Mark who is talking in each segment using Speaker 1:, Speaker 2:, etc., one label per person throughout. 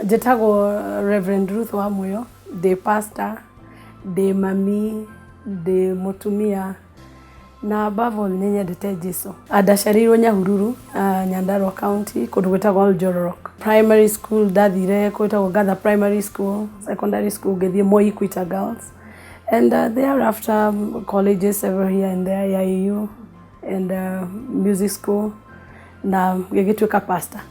Speaker 1: Njĩtagwo Reverend Ruth Wamũyũ, ndĩ pastor, ndĩ mami, ndĩ mũtumia na above all nĩ nyendete Jesũ. Ndaciarĩirwo Nyahururu, Nyandarua County kũndũ gwĩtagwo Oljororok. Primary school ndathire kũndũ gwĩtagwo Gatha Primary School, secondary school ngĩthiĩ Moi Equator Girls and thereafter colleges several here and there, Yayũ. and uh, music school na gĩgĩtuĩka pastor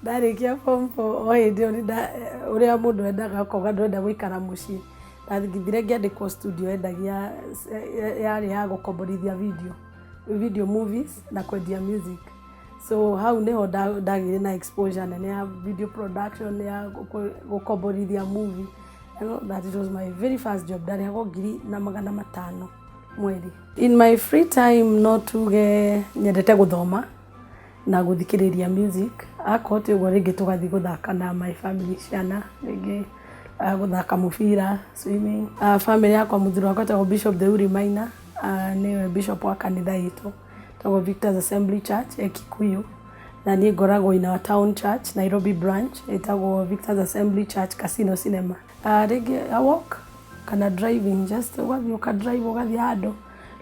Speaker 1: ndarĩkia form four o hĩndĩ ĩyo nĩnda- ũrĩa mũndũ endaga akoga ndwenda gũikara mũciĩ ndathire ngĩandĩkwo studio endagia ya- yarĩ ya gũkomborithia video video movies na kwendia music so hau nĩho nda- ndagĩire na exposure nene ya video production ya gũko- gũkomborithia movie You know, that it was my very first job ndarĩhagwo ngiri na magana matano mweri in my free time no tuge nyendete gũthoma na gũthikĩrĩria music akorwo ti ũguo rĩngĩ tũgathiĩ gũthaka na my family ciana rĩngĩ ah, gũthaka mũbira swimming Ah, family yakwa mũthuri wakwa tagwo bishop theuri maina Ah, nĩwe bishop wa kanitha itũ tagwo victors assembly church ya kikuyu na niĩ ngoragwo in our town church nairobi branch ĩtagwo victors assembly church casino cinema Rĩngĩ a walk kana driving just ũgathiĩ ũka drive ũgathiĩ handũ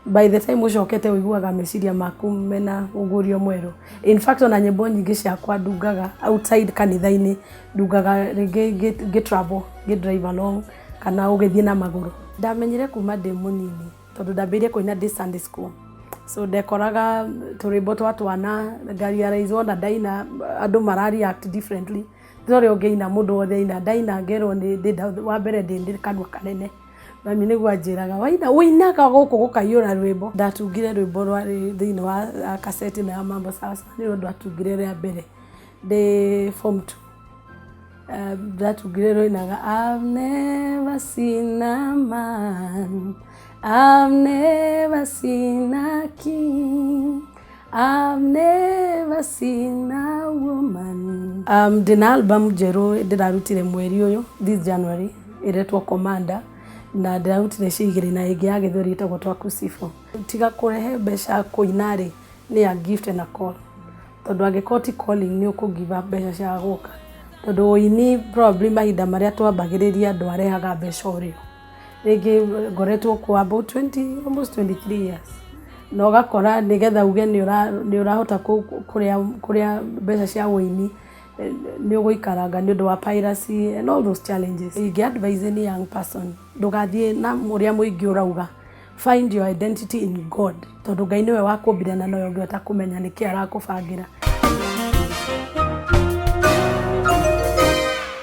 Speaker 1: by the time ũcokete ũiguaga meciria maku mena ũgurio mwerũ. In fact ona nyĩmbo nyingĩ ciakwa ndungaga outside kanitha-inĩ, ndungaga rĩngĩ ngĩ travel ngĩ drive along kana ũgĩthiĩ na magũrũ. Ndamenyire kuma ndĩ mũnini tondũ ndambĩrĩirie kũina ndĩ Sunday school. So ndekoraga tũrwĩmbo twa twana nga realize wona ndaina andũ mara react differently. Ndĩna ũrĩa ũngĩina, mũndũ wothe aina, ndaina ngerwo nĩ ndĩ nda, wa mbere ndĩ ndĩ kanua kanene. Mami nĩguo anjĩraga, waina, ũinaga gũkũ gũkaiyũra rwĩmbo. Ndatungire rwĩmbo rwarĩ thĩinĩ wa kaseti ĩno ya Mambo Sawa Sawa, nĩruo ndatungire rĩa mbere ndĩ form two. Ndatungire rwainaga, I've never seen a man, I've never seen a king. I've never seen a woman. Um, ndĩ na album njerũ ndĩrarutire mweri ũyũ this January ĩretwo Commander na ndĩrarutire cigĩrĩ na ĩngĩ ya gĩthweri ĩtagwo Twakusifu. Tiga kũrehe mbeca kũina rĩ nĩ ya gift na call tondũ angĩkorwo ti calling nĩ ũkũgiva mbeca cia gũka tondũ ũini probably mahinda marĩa twambagĩrĩria andũ arehaga mbeca ũrĩo. rĩngĩ ngoretwo kwa about 20, almost 23 years na ũgakora nĩgetha uge nĩ ũrahota kũrĩa mbeca cia ũini nĩ ũgũikaranga nĩ ũndũ wa piracy and all those challenges. Ingĩ advise any young person ndũgathiĩ na ũrĩa mũingĩ ũrauga find your identity in God tondũ Ngai nĩwe wakũmbire na nowe ũngĩhota kũmenya nĩkĩ arakũbangĩra.